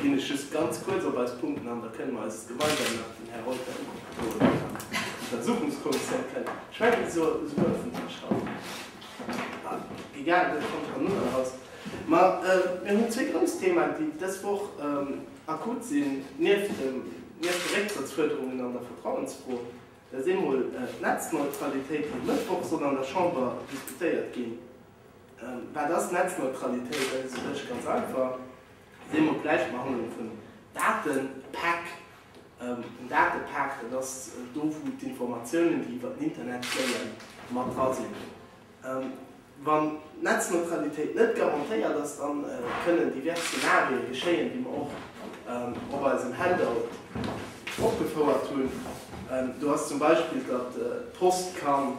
Ginn ech just ganz kuerz op eis Punkten an, da kënnen mer eis gemeinsam nach den Här Reuter uewen an an d'Untersuchungskommissioun kënnen. Ech mengen, esou huet vun Iech schonn egal, kommt dann nunn eraus. Ma mir hunn zwee grouss Themaen, déi dës Woch akut sinn, nieft de Récktrëttsfuerderungen an der Vertrauensfro. Dat ass eemol d'Netzneutralitéit, déi e Mëttwoch soll an der Chamber diskutéiert ginn. Wat ass Netzneutralitéit? Dat ass u sech ganz einfach. Wéi mer d'Bläischt behandelen vun Datepäck. En Datepäck, dat ass do wou d'Informatiounen, déi iwwer den Internet géien, mat dra sinn. Wann d'Netzneutralitéit net garantéiert ass, da kënnen divers Szenarien geschéien, déi mer och op eisem Handout opgefouert hunn. Do ass zum Beispill, datt d'Post kann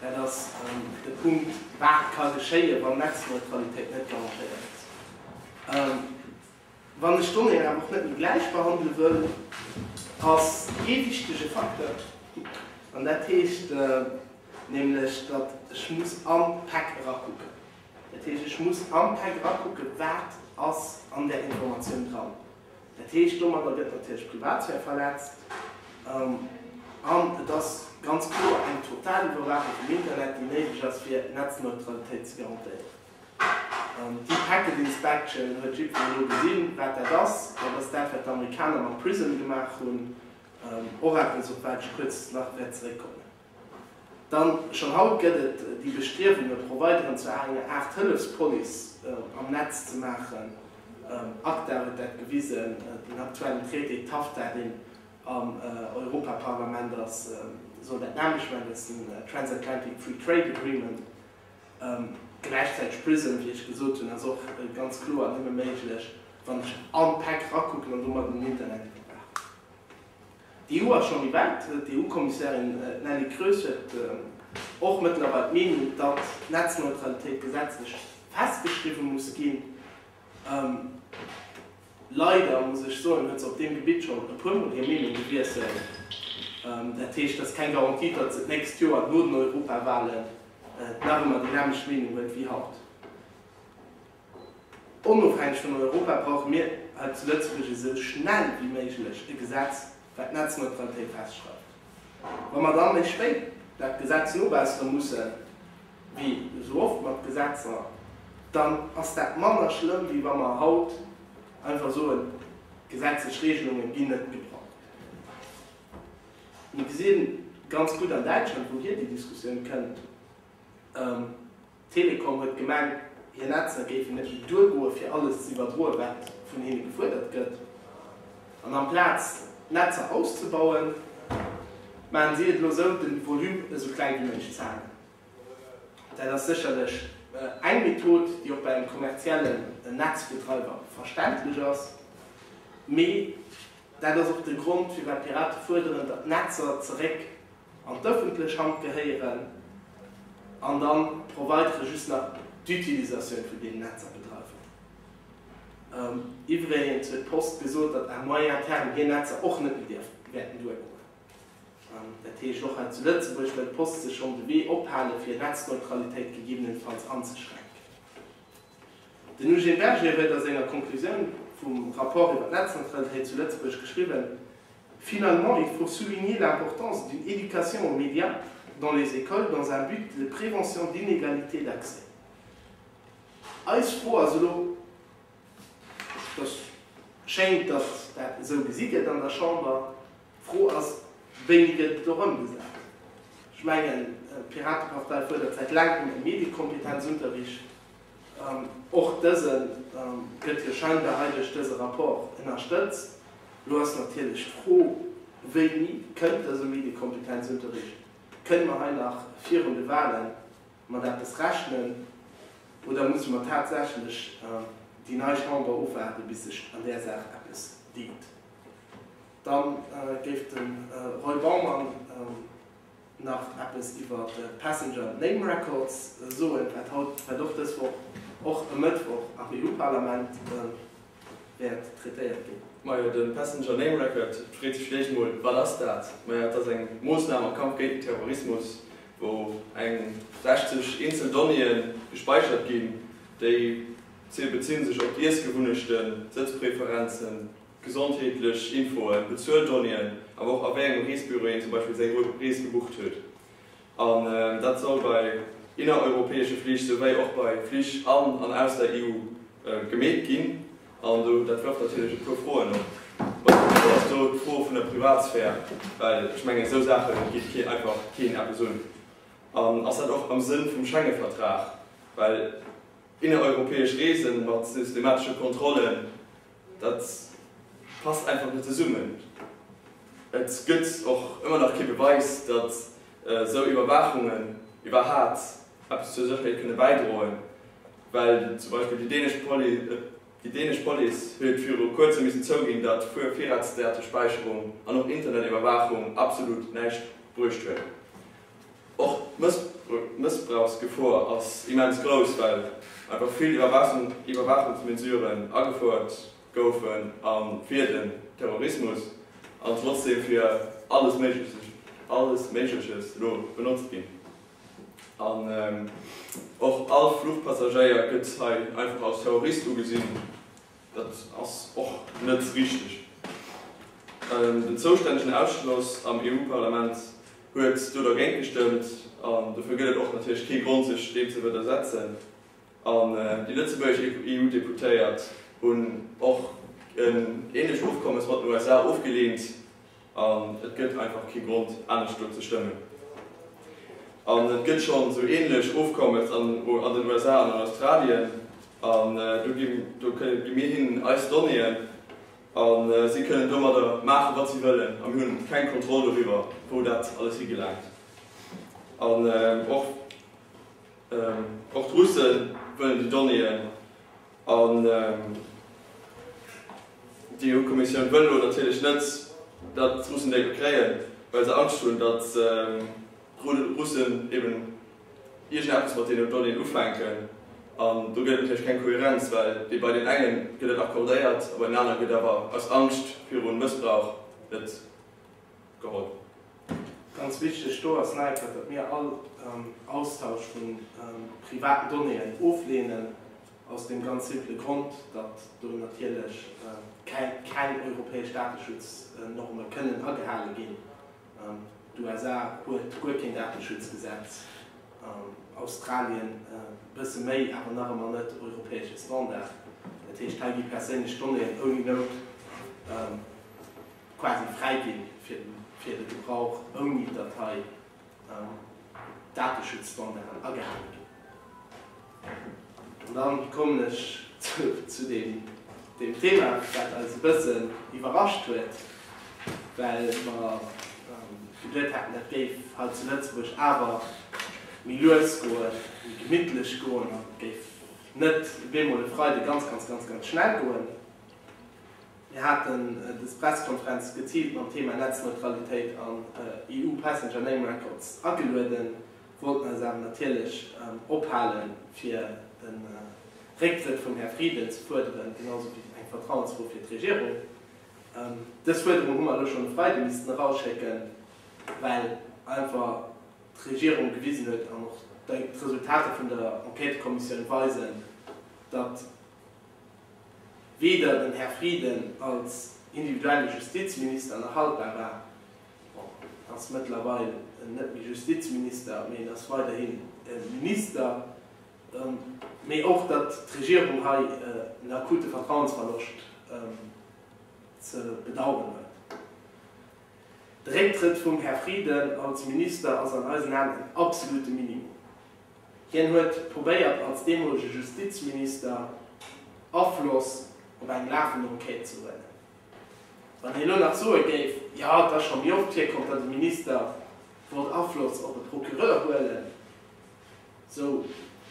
Dat ass de Punkt, wat ka geschéien, wann d'Netzneutralitéit net garantéiert ass. Wann ech d'Donnéeën awer och net méi gläich behandele wëll, ass ee wichtege Facteur, an dat heescht nämlech, datt ech muss am Pak erakucken. Dat heescht, ech muss am Pak erakucken, wat ass an där Informatioun dran. Dat heescht, domadder gëtt natierlech d'Privatsphär verletzt an et ass ganz kloer eng total Iwwerwaachung vum Internet, déi néideg ass, fir Netzneutralitéit ze garantéieren. Déi Packet Inspection huet jiddwereen elo gesinn, wat dat ass. Dat ass dat, wat d'Amerikaner mat Prism gemaach hunn, och eppes, op wat ech kuerz nach wäert zeréckkommen. Dann, schonn haut gëtt et déi Bestriewunge Provideren zu enger Aart Hëllefspolice am Netz ze maachen. Acta huet dat gewisen, den aktuellen Traité TAFTA, deen am Europaparlament ass, soll dat nämmlecht maachen, dat ass den Transatlantic Free Trade Agreement. Gläichzäiteg PRISM, wéi ech gesot hunn, ass och ganz kloer nëmme méiglech, wann ech all d'Päck erakucken an domat en Internet iwwerwaachen. D'EU ass schonn méi wäit. D'EU-Kommissärin Nelly Kroes huet och mëttlerweil d'Meenung, datt d'Netzneutralitéit gesetzlech festgeschriwwe muss ginn. Leider, muss ech soen, huet se op deem Gebitt schonn e puer Mol hir Meenung gewiesselt. Dat heescht, et ass keng Garantie, datt se d'nächst Joer no den Europawahlen nach ëmmer déi nämmlecht Meenung huet wéi haut. Onofhängeg vun Europa brauche mir hei zu Lëtzebuerg esou schnell wéi méiglech e Gesetz, wat d'Netzneutralitéit festschreift. Wa mer dann méi spéit dat Gesetz nobessere mussen, wéi esou oft mat Gesetzer, dann ass dat manner schlëmm, wéi wa mer haut einfach soen, d'gesetzlech Regelunge ginn net gebraucht. Mir gesi ganz gutt an Däitschland, wouhier déi Diskussioun kënnt. D'Telekom huet gemengt, hir Netzer géifen net méi duergoe fir alles ze iwwerdroen, wat vun hinne gefuerdert gëtt. An amplaz d'Netzer auszebauen, maachen si et elo esou, de Volume esou kleng wéi méiglech ze halen. Dat ass sécherlech eng Method, déi och bei engem kommerziellen Netzbetreiber verständlech ass. Mee dat ass och de Grond, firwat d'Pirate fuerderen, datt d'Netzer zeréck. an d'öffentlech Hand gehéieren an dann d'Providere just nach d'Utilisatioun vun deenen Netzer bedreiwen. Iwwregens huet d'Post gesot, datt à moyen terme hir Netzer och net méi dierften, wäerten duergoen. Dat heescht, och hei zu Lëtzebuerg wëll d'Post sech schonn de Wee ophalen, fir Netzneutralitéit gegebenenfalls anzeschränken. Den Eugène Berger huet a senger Conclusioun vum Rapport iwwer d'Netzanzwengtheet zu Lëtzebuerg geschriwwen, Finalement, il faut souligner l'importance d'une éducation aux médias dans les écoles dans un but de prévention d'inégalités d'accès. Eis Fro ass elo, et schéint, datt dat esou gesi gëtt an der Chamber, D'Fro ass, Wéini gëtt et do ëmgesat? Ech mengen, d'Piratepartei fuerdert säit laangem e Mediekompetenzunterricht. Och dëse gëtt jo scheinbar hei duerch dëse Rapport ënnerstëtzt. Elo ass natierlech d'Fro, Wéini kënnt dëse Mediekompetenzunterricht? Kënne mer hei nach virun de Wahle mat eppes rechnen oder musse mer tatsächlech déi nei Chamber ofwaarden, bis sech an där Saach eppes deet? Dann géif de Roy Baumann nach eppes iwwer d'Passenger Name Records soen, wat haut, wat och dës Woch, och e Mëttwoch am EU-Parlament wäert traitéiert ginn. Majo, de Passenger Name Record freet sech vläicht mol, wat ass dat? Majo, et ass eng Moossnam am Kampf géint den Terrorismus, wou eng 60 eenzel Donnéeë gespäichert ginn. Déi bezihe sech op d'Iessgewunnechten, Sëtzpreferenzen, Gesondheetlech Infoen, Bezueldonnéeën, awer och a wéi engem Reesbüro een zum Beispill seng Rees gebucht huet. An dat soll bei innereuropäesche Flich souwéi och bei Flich an an aus der EU gemeet ginn. An dat wërft natierlech e puer Froen op. Bei mir ass do d'Fro vun der Privatsphär, well ech mengen, esou Saache geet keen einfach keen eppes un. An ass dat och am Sënn vum Schengevertrag, well innereuropäesch Reese mat systematesche Kontrollen, Dat passt einfach net zesummen. Et gëtt och ëmmer nach kee Beweis, datt esou Iwwerwaachungen iwwerhaapt eppes zur Sécherheet kënne bäidroen, well zum Beispill déi dänesch Police huet viru kuerzem missen zouginn, datt Virratsdatespäicherung an och Internetiwwerwaachung absolut näischt bruecht huet. Och d'Mëssbrauchsgefor ass immens grouss, well einfach vill Iwwerwaachungsmesuren agefouert goufen a fir den Terrorismus an trotzdeem fir alles Méigleches elo benotzt ginn. An och all Fluchpassagéier gëtt hei einfach als Terrorist ugesinn. Dat ass och net richteg. Den zoustännegen Ausschloss am EU-Parlament huet do dergéint gestëmmt an dofir gëtt et och natierlech kee Grond sech deem ze widdersetzen. An déi lëtzebuergesch EU-Deputéiert hunn och en ähnlecht Ofkommes mat den USA ofgeleent. An et gëtt einfach kee Grond, anescht do ze stëmmen. An et gëtt schonn esou ähnlech Ofkommes an den USA an an Australien. An do gi mir hinnen eis Donnéeën a si kënnen domadder maachen, wat si wëllen. A mir hunn keng Kontroll doriwwer, wou dat alles higelaangt. An och d'Russe wëllen déi Donnéeën. An déi EU-Kommissioun wëll elo natierlech net, datt d'Russen déi do kréien, well se Angscht hunn, datt d'Russen eben iergendeppes mat deenen Donnéeën ufänken. An do gëtt et natierlech keng Kohärenz, well déi bei deenen enge gëtt et accordéiert a bei deenen anere gëtt awer aus Angscht viru Mëssbrauch net. geholl. Ganz wichteg do ass nach eppes, datt mir all Austausch vu privaten Donnéeën ofleenen, aus deem ganz simpele Grond, datt do natierlech keng europäesch Dateschutznorme kënnen agehale ginn. D'USA huet guer keen Dateschutzgesetz, Australien e bësse méi, awer nach ëmmer net europäesche Standard. Dat heescht, hei gi perséinlech Donnéeën ouni Nout quasi fräiginn fir de Gebrauch ouni datt hei Dateschutzstandarden agehale ginn. An dann kommen ech zu deem Thema wat eis e bëssen iwwerrascht huet, well mer geduet haten dat géif hei zu Lëtzebuerg awer méi lues goen, méi gemittlech goen an et géif net op eemol e Freide ganz ganz ganz ganz schnell goen. Mir haten dës Pressekonferenz geziilt mam Thema Netzneutralitéit an EU Passenger Name Records agelueden, wollten eis awer natierlech ophalen, fir de Récktrëtt vum Här Frieden ze fuerderen, genausou wéi eng Vertrauensfro fir d'Regierung. Dës Fuerderung hu mer elo schonn e Freide missten erausschécken, well einfach d'Regierung gewisen huet, an och d'Resultater vun der Enquêtëkommissioun weisen, datt, weder den Här Frieden als individuelle Justizminister nach haltbar war, bon, en ass mëttlerweil net méi Justizminister, mee en ass weiderhin e Minister, mee och datt d'Regierung hei en akute Vertrauensverloscht ze bedauern huet. De Récktrëtt vum Här Frieden als Minister ass an eisen Aen en absolute Minimum. Hien huet probéiert als deemolege Justizminister Afloss op eng lafend Enquête ze huelen. Wann hien elo nach soe géif, jo et ass scho méi oft virkomm, datt e Minister wollt Afloss op e Procureur huelen, esou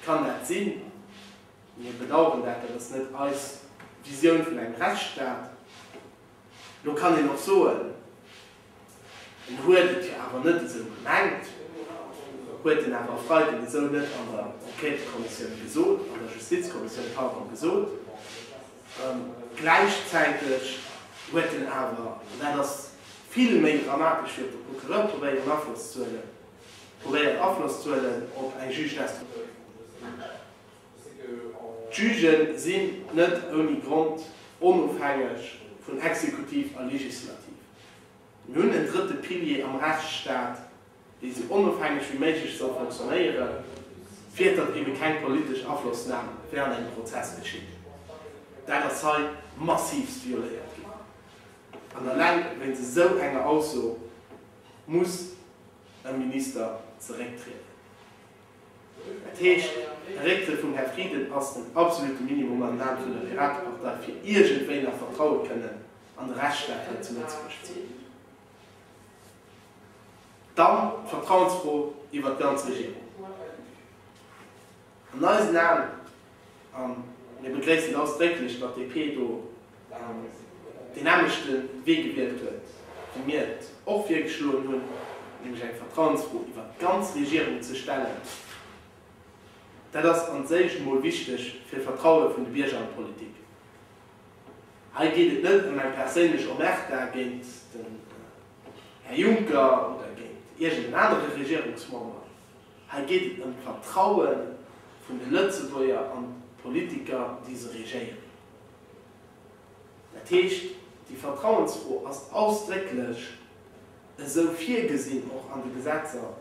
kann dat sinn, mir bedaueren dat, dat ass net eis Visioun vun engem Rechtsstaat. Elo kann een och soen. En huet et jo awer net esou gemengt, huet en awer e Freiden esou net an der Enquêtëkommissioun gesot, an der Justizkommissioun, pardon, gesot. Gläichzäiteg huet en awer, an dat ass vill méi dramatesch wéi op de Procureur probéieren Afloss ze huelen, probéiert Afloss ze huelen op eng Juge d'instruction. D'Jugë sinn net ouni Grond onofhängeg vun Exekutiv a Legislativ. Mir hunn en drëtte Pilier am Rechtsstaat, dee sou onofhängeg wéi méiglech soll fonctionnéieren, fir datt eebe keng politesch Aflossnam während engem Prozess geschitt. Dat ass hei massivst violéiert ginn. An eleng wéinst esou enger Ausso muss e Minister zerécktrieden. Dat heescht, de Récktrëtt vum Här Frieden ass den absolute Minimum am Name vun der Piratepartei, fir iergendwéi nach Vertraue kënnen an de Rechtsstaat hei zu Lëtzebuerg ze hunn. Dann d'Vertrauensfro iwwert d'ganz Regierung. An eisen Aen, a mir begréissen ausdrécklech, datt d'DP do deen aneschte Wee gewielt huet, wéi mir et och virgeschloen hunn, nämlech eng Vertrauensfro iwwert d'ganz Regierung ze stellen. Dat ass an séich emol wichteg fir d'Vertraue vun de Bierger an d'Politik. Hei geet et net ëm eng perséinlech Omerta géint den Här Juncker oder géint iergend en anere Regierungsmember. Hei geet et ëm d'Vertraue vun de Lëtzebuerger an d'Politiker, déi se regéieren. Dat heescht, déi Vertrauensfro ass ausdrécklech esou virgesinn, och an de Gesetzer,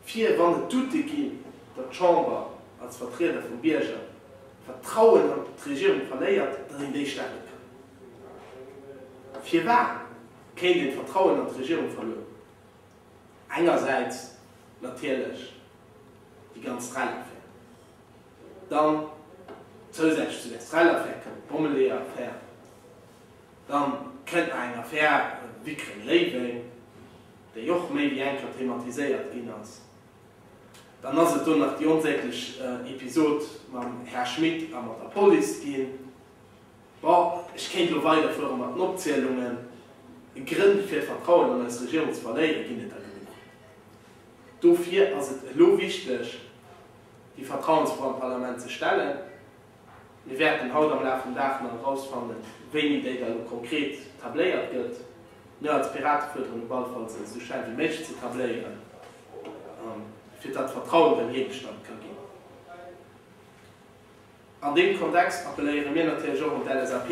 fir, wann et Doute ginn, datt d'Chamber als Vertrieder vum Bierger d'Vertrauen an d'Regierung verléiert, datt een déi stelle kann. Firwat kéint een d'Vertrauen an d'Regierung verlueren? Engersäits natierlech déi ganz Rallye-Affär. Dann zousätzlech zu der Strell-Affär kënnt d'Bommeleeër-Affär. Dann kënnt nach eng Affär Wickreng-Léiweng, déi och méi wéi eng Kéier thematiséiert ginn ass. Dann ass et do nach déi onsäglech Episod mam Här Schmit a mat der Police ginn. Bon, ech kéint elo weiderfuere mat den Opzielungen. Grënn fir d'Vertrauen an eis Regierung ze verléieren, ginn et der genuch. Dofir ass et elo wichteg, déi Vertrauensfro am Parlament ze stellen. Mir wäerten haut am Laf vum Dag nach erausfannen, wéini déi da elo konkret tabléiert gëtt. Mir als Piraten fuerderen op alle Fall, se esou schnell wéi méiglech ze tabléieren, fir datt d'Vertrauen erëm hiergestallt ka ginn. An deem Kontext appelléiere mir natierlech och un d'LSAP,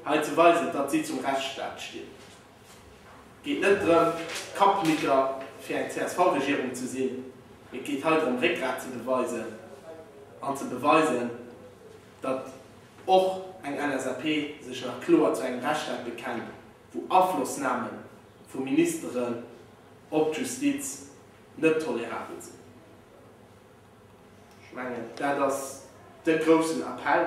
hei ze weisen, datt si zum Rechtsstaat stinn. geet net drëm, Kappnicker fir eng CSV-Regierung ze sinn, mee et geet hei drëm, Réckgrat ze beweisen an ze beweisen, datt och eng LSAP sech nach kloer zu engem Rechtsstaat bekennt, wou Aflossname vu Ministeren op d'Justiz net tolerabel sinn. Ech mengen, dat ass de groussen Appell,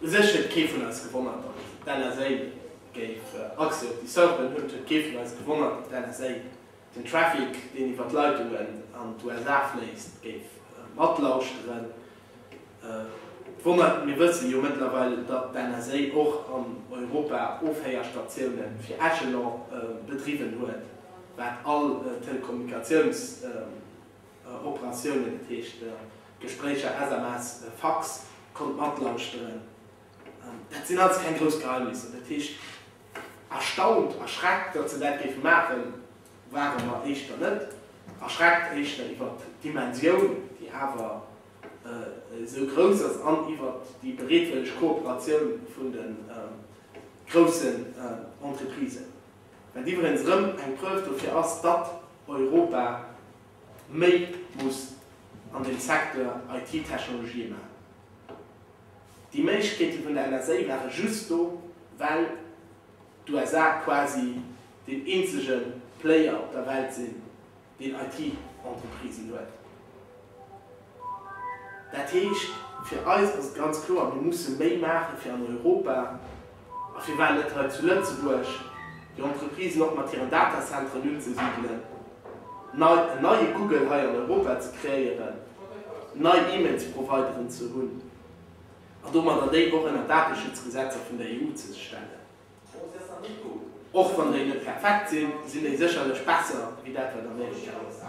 U sech huet kee vun eis gewonnert, datt d'NSA géif Accès op déi Serveren hunn. Et huet kee vun eis gewonnert, datt d'NSA den Traffic, deen iwwer d'Leitungen an d'USA fléisst, géif matlauschteren. D'Wonner, Mir wësse jo mëttlerweil, datt d'NSA och an Europa Ofhéierstatioune fir Echelon bedriwwen huet, wat all Telekommunikatiouns. Operatiounen, dat heescht Gespréicher, SMS, Fax, konnt matlauschteren. Dat sinn alles keng grouss Geheimnisser. Dat heescht, erstaunt, erschreckt, datt se dat géife maachen, ware mer éischter net. Erschreckt éischter iwwer d'Dimensioun, déi awer esou grouss ass, an iwwer déi bereetwëlleg Kooperatioun vun de groussen Entreprisen. Wat iwwregens rëm eng Preuve dofir ass, datt Europa méi muss an dem Secteur IT-Technologië maachen. Déi Méiglechkeeten vun der NSA ware just do, well d'USA quasi deen eenzege Player op der Welt sinn, deen IT-Entreprisen huet. Dat heescht, fir eis ass et ganz kloer, mir musse méi maache fir an Europa, a firwat net hei zu Lëtzebuerg, déi Entreprisen och mat hiren Datacenteren unzesidelen, nei, en neie Google hei an Europa ze kreéieren, nei E-Mails-Provideren ze hunn, a domadder déi och ënner d'Dateschutzgesetzer vun der EU ze stellen. Och wann déi net perfekt sinn, sinn déi sécherlech besser wéi dat wat Amerika ass.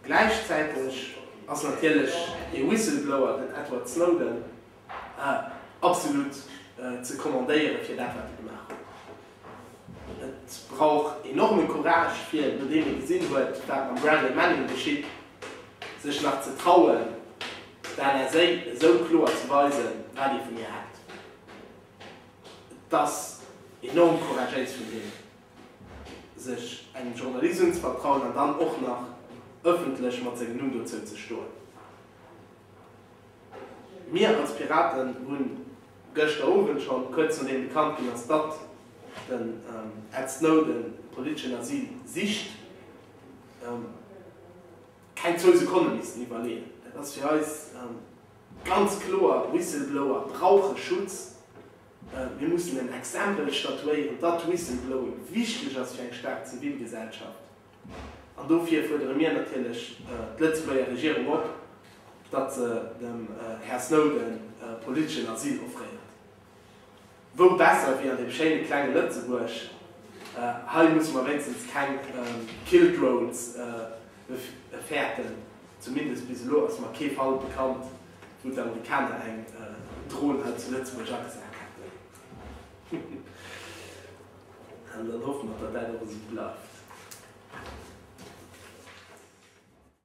Gläichzäiteg ass natierlech dee Whistleblower, den Edward Snowden, absolut ze commandéieren fir dat wat e gemaach huet. Et brauch enorme Courage fir, nodeem ee gesinn huet wat mam Bradley Manning geschitt, sech nach ze trauen der NSA esou kloer ze weisen wat ee vun hir hält. Et ass enorm couragéis vun him, sech engem Journalisum ze vertrauen an dann och nach ëffentlech mat sengem Numm dozou ze stoen. Mir als Piraten hunn gëschter Owend schonn, kuerz nodeem bekannt ginn ass, datt den Ed Snowden politeschen Asyl sicht, keng zwou Sekonne missten iwwerleeën. Dat ass fir eis. Ganz kloer, Whistleblower brauche Schutz. Mir mussen en Exempel statuéieren, datt Whistleblowing wichteg ass fir eng staark Zivilgesellschaft. An dofir fuerdere mir natierlech d'Lëtzebuerger Regierung op, datt se dem Här Snowden politeschen Asyl offréiert. Wou besser wéi an deem schéine klenge Lëtzebuerg? Hei musse mer wéinstens keng Killed Roads méi fäerten, zumindest bis elo ass mer kee Fall bekannt, wou d'Amerikaner eng Dron hei zu Lëtzebuerg agesat hätten. An dann hoffe mer, datt dat och esou bleift.